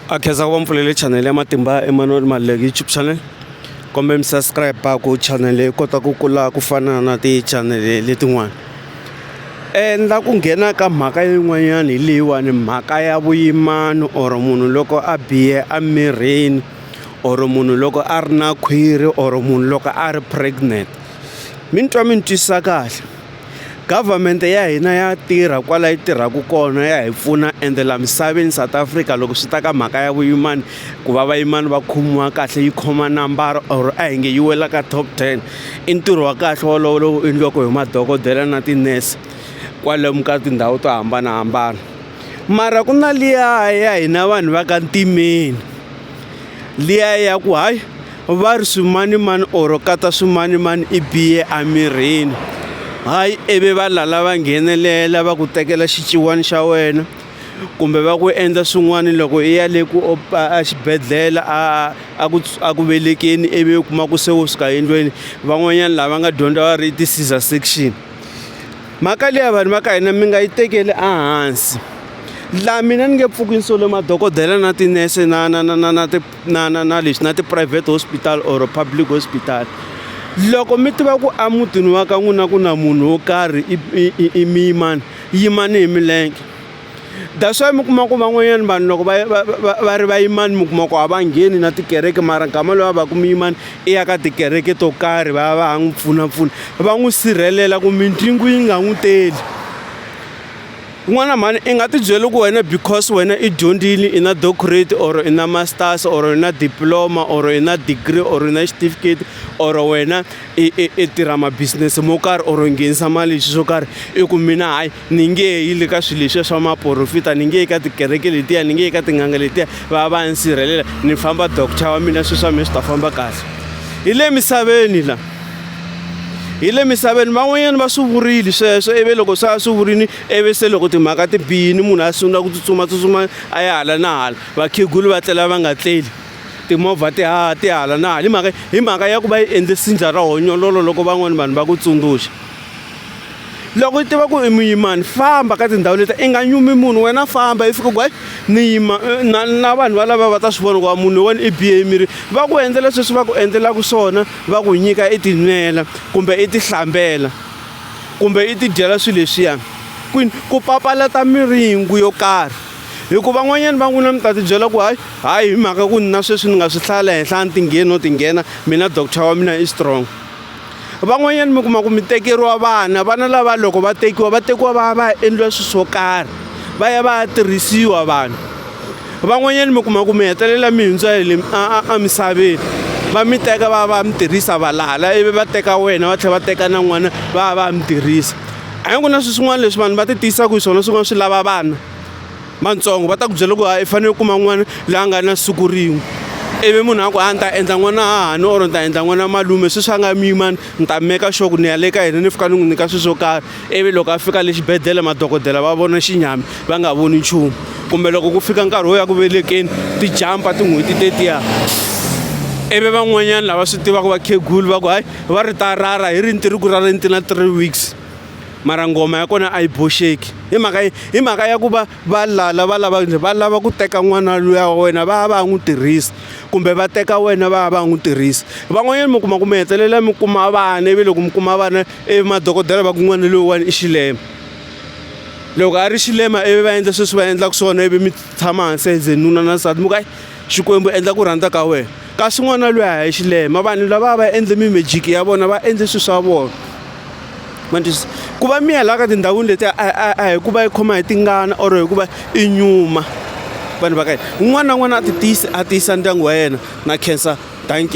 a khensa ku va mpfulele channel ya matimba Emmanuel Maluleke YouTube channel kombe mi subscribe ku channel yi kota ku kula ku fana na ti-channel letin'wana endla ku nghena ka mhaka yin'wanyana hi leyiwani mhaka ya vuyimani or munhu loko a bihe emirini or munhu loko a ri na khwiri or munhu loko a ri pregnant mi ni twa mi ni twisisa kahle Government ya hina ya tirha kwala yi tirhaka kona ya hi pfuna ende la misaveni South Africa loko swi ta ka mhaka ya vuyimana ku va vayimana va khomiwa kahle yi khoma nambara or a hi nge yi wela ka top ten i ntirho wa kahle wolowo lowu endliwaka hi madokodela na tinese kwalomu ka tindhawu to hambanahambana mara ku na liya ya hina vanhu va ka ntimeni. liya ya ku hayi va ri swimanimani or kata swimanimani i biye emirini hayi ivi va lala va nghenelela va ku tekela xiciwani xa wena kumbe va ku endla swin'wana loko i ya le ku exibedhlele a a ku a ku velekeni ivi u kuma ku se u suka endlweni van'wanyana lava nga dyondza va ri i ti-scissor section. mhaka leya vanhu va ka hina mi nga yi tekeli ehansi la mina ni nge pfuki ni sole madokodela na tinese na na na na na na na na lexi na ti-private hospital or public hospital loko mi tiva ku a mutini wa ka n'wina ku na munhu wo karhi i i i miyimani yimani hi milenge That's why mi kuma ku van'wanyana vanhu loko va va va va ri vayimani mi kuma ku a va ngheni na tikereke mara nkama loyi a va ku muyimani i ya ka tikereke to karhi va ya va ya n'wi pfunapfuna va n'wi sirhelela ku mindzingu yi nga n'wi teli kun'wana mhani i nga tibyeli ku wena because wena i dyondzile i na doctorate or i na masters or i na diploma or i na degree or i na xitifiketi or wena i i i tirha ma-business mo karhi or nghenisa mali hi swilo swo karhi i ku mina hayi ni nge yi le ka swilo leswiya swa maporofita ni nge yi ka tikereke letiya ni nge yi ka tin'anga letiya va va ni sirhelela ni famba doctor wa mina swilo swa mina swi ta famba kahle hi le misaveni la hi le misaveni van'wanyana va swi vurile sweswo ivi loko se a swi vurile ivi se loko timhaka ti biyini munhu a sungula ku tsutsumatsutsuma a ya hala na hala vakhegulu va tlela va nga tleli timovha ti ha ti hala na hala hi mhaka hi mhaka ya ku va yi endle sindza ra honyololo loko van'wani vanhu va ku tsundzuxa loko i tiva ku i muyimani famba ka tindhawu leti i nga nyumi munhu wena famba i fika ku hayi ni yima eh, na, na vanhu valava va ta swi vona ku va munhu wena i bihe emirini va ku endlela sweswi va ku endlelaka swona va ku nyika i tinwela kumbe i tihlambela kumbe i tidyela swilo leswiyani kwini ku papalata miringu yo karhi hikuva van'wanyana va n'wina mi ta tibyela ku hayi hayi hi mhaka ku ni na sweswi ni nga swi hlaya la henhla a ni tingheni no tinghena mina doctor wa mina i strong van'wanyana mi kuma ku mi tekeriwa vana vana lava loko va tekiwa va tekiwa va ya va ya endliwa swilo swo karhi va ya va ya tirhisiwa vanhu van'wanyana mi kuma ku mi hetelela mi hundza hi le emisaveni va mi teka va va mi tirhisa valala ivi va teka wena va tlhela va teka na n'wana va va mi tirhisa a hi ku na swilo swin'wana leswi vanhu va ti tiyisaka hi swona swin'wana swi lava vana matsongo va ta ku byela ku i fanele u kuma n'wana la nga na siku rin'we ivi munhu a ku a ni ta endla n'wana hahani or ni ta endla n'wana malume sweswi a nga muyimani ni ta meka sure ku ni ya le ka yena ni fika ni n'wi nyika swilo swo karhi ivi loko a fika le xibedhlele madokodela va vona xinyami va nga voni nchumu kumbe loko ku fika nkarhi wo ya ku velekeni ti jampa tin'hweti tetiya ivi van'wanyana lava swi tivaka vakhegulu va ku hayi va ri ta rara hi ri ni tiriku ra le ni ti na three weeks mara ngoma ya kona a yi boxeki hi mhaka yi hi mhaka ya ku va va lala va lava va lava ku teka n'wana luya wa wena va ya va ya n'wi tirhisa kumbe va teka wena va ya va ya n'wi tirhisa van'wanyana mi kuma ku mi hetelela mi kuma vana ivi loko mi kuma vana i madokodela va ku n'wana loyiwani i xilema loko a ri xilema ivi va endla sweswi va endlaka swona ivi mi tshama hansi as nuna na nsati mi ku hayi xikwembu endla ku rhandza ka wena kasi n'wana loyi a hi xilema vanhu lava va endle mimejiki ya vona va endle swilo swa vona manjisi ku va miya laha ka tindhawini leti a hi ku va yi khoma hi tingana or hi ku va i nyuma vanhu va ka yena un'wana na un'wana a ti tiyisi a tiyisa ndyangu wa yena na cancer dankie